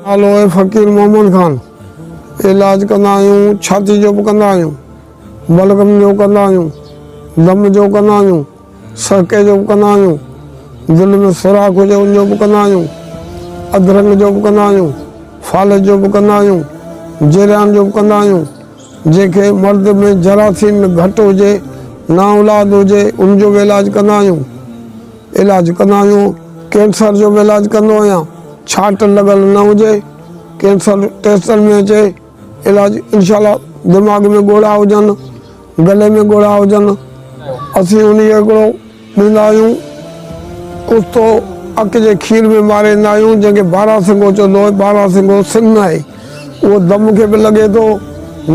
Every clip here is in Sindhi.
نالو آهي فقير محمد خان. علاج ڪندا آهيون، ڇاتي جو به ڪندا آهيون، بلغم جو ڪندا آهيون، دم جو ڪندا آهيون، سرڪي جو به ڪندا آهيون، دل ۾ سوراخ هجي ان جو به ڪندا آهيون، ادرنگ جو به ڪندا آهيون، فالج جو به ڪندا آهيون، جريان جو به ڪندا آهيون، جنهن کي مرد ۾ جراثيم گهٽ هجي، نااولاد هجي، ان جو به علاج ڪندا آهيون. علاج ڪندا آهيون ڪينسر جو به علاج ڪندو آهيان ڇاٽ لڳل نه هجي ڪينسر ٽيسٽن ۾ اچي علاج انشاء الله دماغ ۾ ڳوڙها هجن گلي ۾ ڳوڙها هجن اسين ان کي هڪڙو ڏيندا آهيون ڪستو اک جي کير ۾ ماري ڏيندا آهيون جنهن کي بارا سنگو چوندو آهي بارا سنگو سن آهي اهو دم کي به لڳي ٿو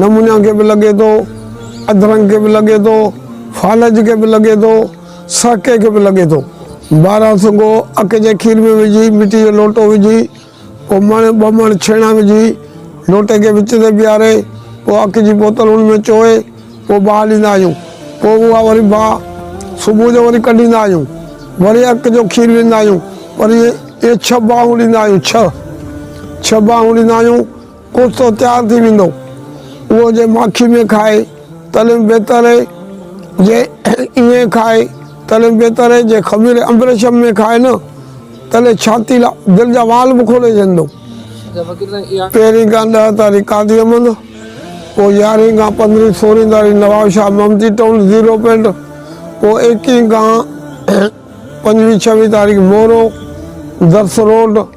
نمونيا کي به لڳي ٿو ادرنگ کي به لڳي ٿو فالج کي به لڳي ٿو سا ڪيڪ به لڳي ٿو. ٻاهران سنگهو اک جي کير ۾ وجهي مٽي جو لوٽو وجهي پوء مڻ ٻه مڻ ڇيڻا وجهي لوٽي کي وچ تي بيهاري پوء اک جي بوتل ان ۾ چوهي پوء باهه ڏيندا آهيون پوء اها وري باهه صبح جو وري ڪڍيندا آهيون وري اک جو کير ڏيندا آهيون وري ائين ائين ڇهه باهون ڏيندا آهيون ڇهه ڇهه باهون ڏيندا آهيون. ڪوفتو تيار ٿي ويندو اهو جي ماکي ۾ کائي تڏهن بهتر اهي جي ائين کائي تڏهن بهتر اهي جي خمير امبرشم ۾ کائي نه تڏهن ڇاتي لا دل جا وال به کولي ڇڏيندو. پهرين کان ڏهه تاري قاضي احمد پوء يارهين کان پندرهين سورهين تاري نواب شاهه ممتي ٽون زيرو پنڊ پوء ايڪيهين کان پنجويهين ڇويهين تاريخ مورو درس روڊ.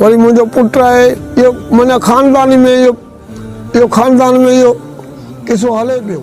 وري منهنجو پٽ آهي اهو معنيٰ خاندان ۾ اهو اهو خاندان ۾ اهو قصو هلي پيو.